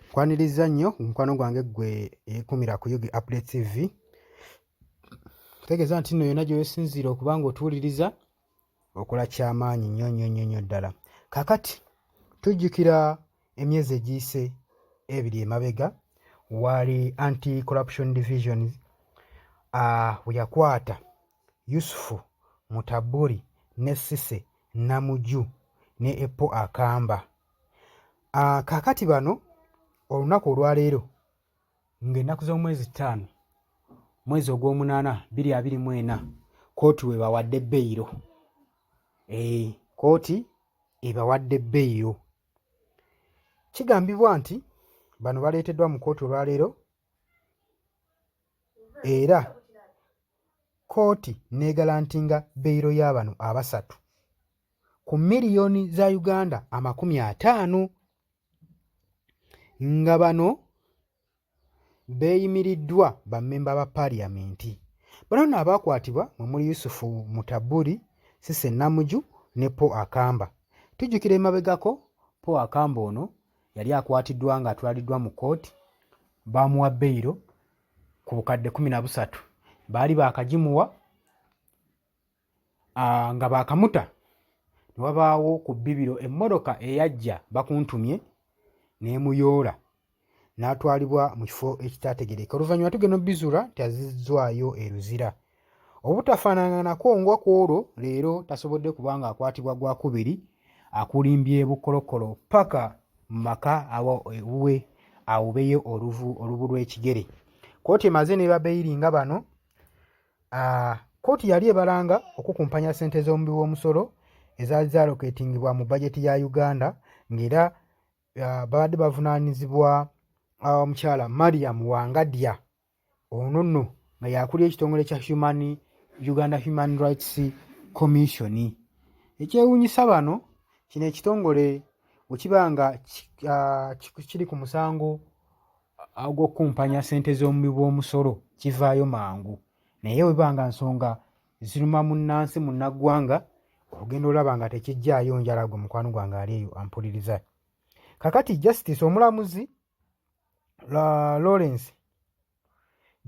Nkwanirizza nnyo mukwano gwange ggwe ekumira ku Yugi Update TV. Tegeeza nti nno yonna gy'osinziira okuba ng'otuwuliriza okola ky'amaanyi nnyo nnyo nnyo nnyo ddala. Kaakati tujjukira emyezi egiyise ebiri emabega waali anti corruption division uh, we yakwata Yusufu Mutaburi ne Sise Namuju ne Epo Akamba. Ah, kaakati bano olunaku olwaleero ng'ennaku z'omwezi ttaano mwezi ogw'omunaana biri abiri mu ena kooti webawadde beyiro eh, kooti ebawadde beyiro kigambibwa nti bano baleeteddwa mu kooti olwaleero era kooti neegalantinga beyiro y'abano abasatu ku miliyoni za Uganda amakumi ataano nga bano beeyimiriddwa bammemba ba paaliyamenti. Bano nno abaakwatibwa mwe muli Yusufu Mutaburi, Sise Namuju ne Paul Akamba. Tujjukira emabegako Paul Akamba ono yali akwatiddwa ng'atwaliddwa mu kkooti baamuwa beyiro ku bukadde kumi na busatu baali baakagimuwa nga baakamuta ne wabaawo ku bbibiro emmotoka eyajja bakuntumye n'emuyoola n'atwalibwa mu kifo ekitaategereka oluvannyuma tugenda obizuula nti azizzwayo e luzira obutafaanananako nga ku olwo leero tasobodde kuba nga akwatibwa gwakubiri akulimbye bukolokolo paka mu maka awuwe awubeyo oluvu olubu lw'ekigere kooti emaze ne babeiri nga bano kkooti yali ebalanga okukumpanya ssente z'omubi w'omusolo ezaali zaloketingibwa mu bajeti ya uganda ng'era babadde bavunaanyizibwa omukyala mariam wangadya ono nno nga yakulira ekitongole kya human uganda human rights commission ekyewuunyisa bano kino ekitongole wekiba nga kiri ku musango ag'okukumpanya ssente z'omubi bw'omusolo kivaayo mangu naye weba nga nsonga ziruma munnansi munnaggwanga ogenda olaba nga tekijjaayo njala gwe mukwano gwange ali eyo ampuliriza kakati justice omulamuzi la lawrence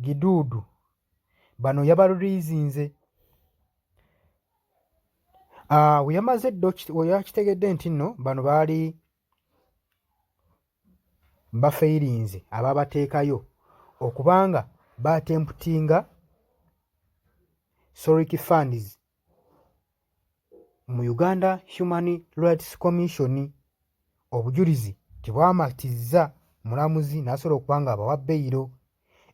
giduudu bano yabaluliizinze ah, weyamaze ddo weyakitegedde nti nno bano baali bafeelinze ababateekayo okubanga baatemputinga soric funds mu uganda human rights commission obujulizi tebwamatizza mulamuzi n'asobola okuba nga abawa beyiro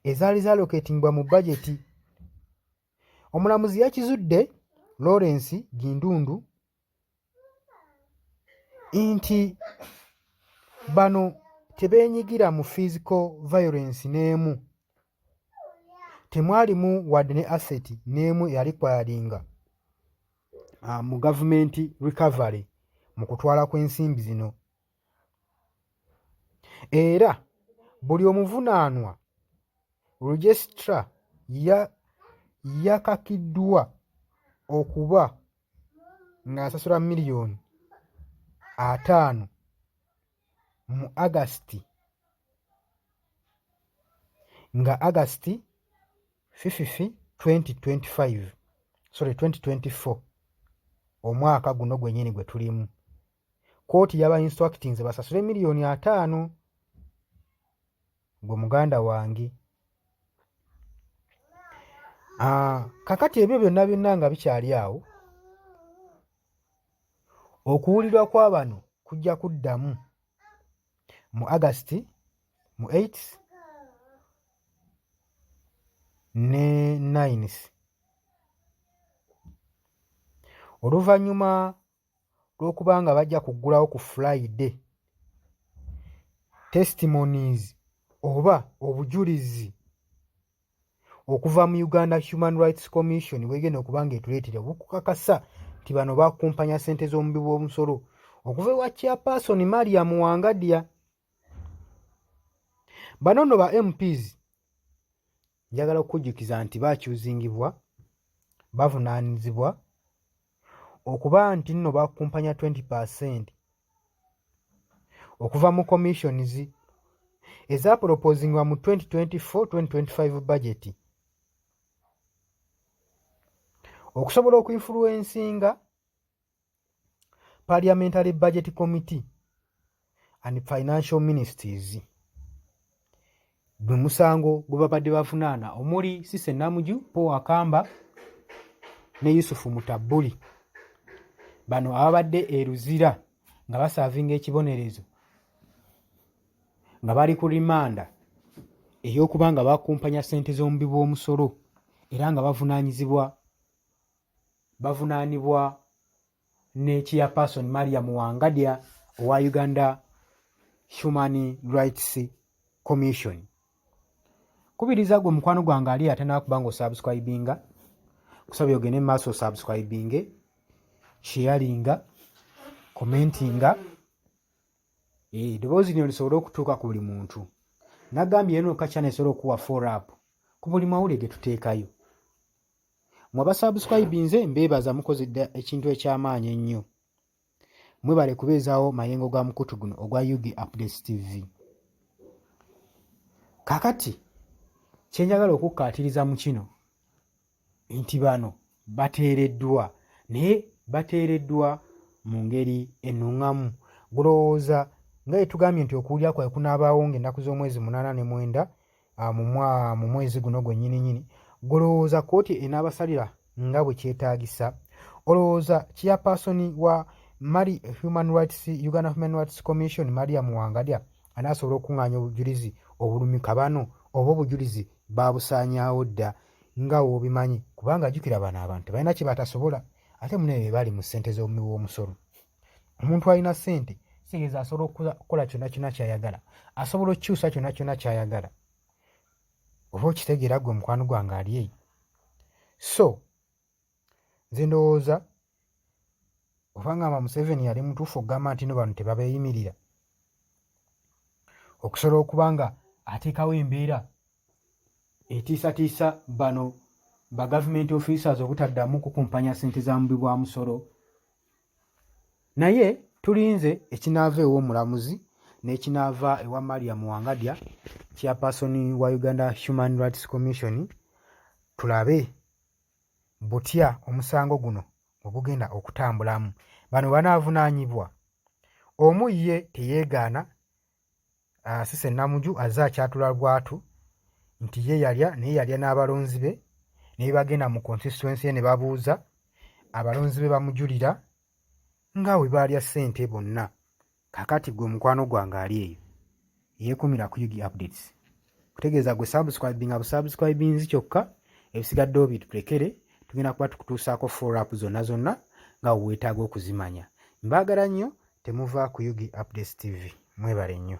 ezaali zaloketingbwa mu bajeti omulamuzi yakizudde lawrence gindundu nti bano tebeenyigira mu physical violence n'emu temwalimu wadde ne asset n'emu eyali kwayalinga ah, mu gavumenti recovery mu kutwala kw'ensimbi zino era buli omuvunaanwa registra yakakiddwa okuba ng'asasula miliyoni ataano mu agasiti nga agasiti fififi 2025 sorry 2024 omwaka guno gwenyini gwe tulimu kkooti yaba instructinze basasule miliyoni ataano gwe muganda wange ah, kakati ebyo byonna byonna nga bikyali awo okuwulirwa kwa bano kujja kuddamu mu agasiti mu 8 ne 9 oluvannyuma lw'okubanga bajja kuggulawo ku Friday testimonies oba obujulizi okuva mu Uganda Human Rights Commission bwegenda okuba nga etuleetera obukukakasa nti bano bakumpanya ssente z'omubi bw'omusolo okuva ewa chairperson Mariam Wangadya bano nno ba mps njagala okukujjukiza nti bakyuzingibwa bavunaanyizibwa okuba nti nno bakumpanya 20 percent okuva mu commissions ezapolopozingibwa mu 2024-2025 bajeti okusobola okuinfuluwensinga parliamentary budget committee and financial ministries gwe musango gwe babadde bavunaana omuli sise namuju paul akamba ne yusufu mutabuli bano ababadde e luzira nga basaavinga ekibonerezo nga bali ku rimanda ey'okuba nga bakumpanya ssente z'omubi bw'omusolo era nga bavunaanyizibwa bavunaanibwa ne chairperson mariam wangadya owa uganda human rights commission kubiriza gwe mukwano gwange ali atanaba kuba nga osubscribinga kusaba yogende mumaaso osubscribinge sharinga commentinga eh, eddoboozi lino lisobole okutuuka ku buli muntu nagambye yeno kakyana esobola okuwa forup ku buli mawulire getuteekayo mwe abasubscribinze mbeebaza mukoze dda ekintu eky'amaanyi ennyo mwebale kubeezaawo mayengo ga mukutu guno ogwa ug updates tv kakati kyenjagala okukkaatiriza mu kino nti bano bateereddwa naye bateereddwa mu ngeri ennuŋŋamu gulowooza nga etugambye nti okuwulira kwae kunaabaawo ng'ennaku z'omwezi munaana ne mwenda ah, mu mwezi guno gwennyini nyini golowooza kkooti enaabasalira nga bwe kyetaagisa olowooza chairpersoni wa mali human rights uganda human rights commission maria muwangalya anaasobola okukung'anya obujulizi obulumi kabano oba obujulizi baabusaanyaawo dda nga woobimanyi kubanga ajukira bano abantu balina kye batasobola ate munaye be bali mu ssente z'omuwi w'omusolo omuntu alina sente sigeza asobola okukola kyona kyona kyayagala asobola okukyusa kyona kyona kyayagala oba okitegeera gwe mukwano gwange ali eyo so nze ndowooza obangamba museveni yali mutuufu okugamba nti no bano tebabeeyimirira okusobola okuba nga ateekawo embeera etiisatiisa bano ba government officers obutaddamu kukumpanya ssente za mubi bwa musolo naye tulinze ekinaava ew'omulamuzi n'ekinaava ewa maria muwangadya chairperson wa uganda human rights commission tulabe butya omusango guno bwe gugenda okutambulamu bano banaavunaanyibwa omu ye teyeegaana asise ah, namuju azze akyatula lwatu nti ye yalya naye yalya n'abalonzi be naye bagenda mu consistency ne babuuza abalonzi be bamujulira nga we baalya ssente bonna kakati gwe mukwano gwange ali eyo yeekumira ku ug updates kutegeeza gwe subscribe nga busubscribinzi kyokka ebisigadde obitulekere tugenda kuba tukutuusaako forapu zonna zonna nga weetaaga okuzimanya mbaagala nnyo temuva ku ug updates tv mwebale nnyo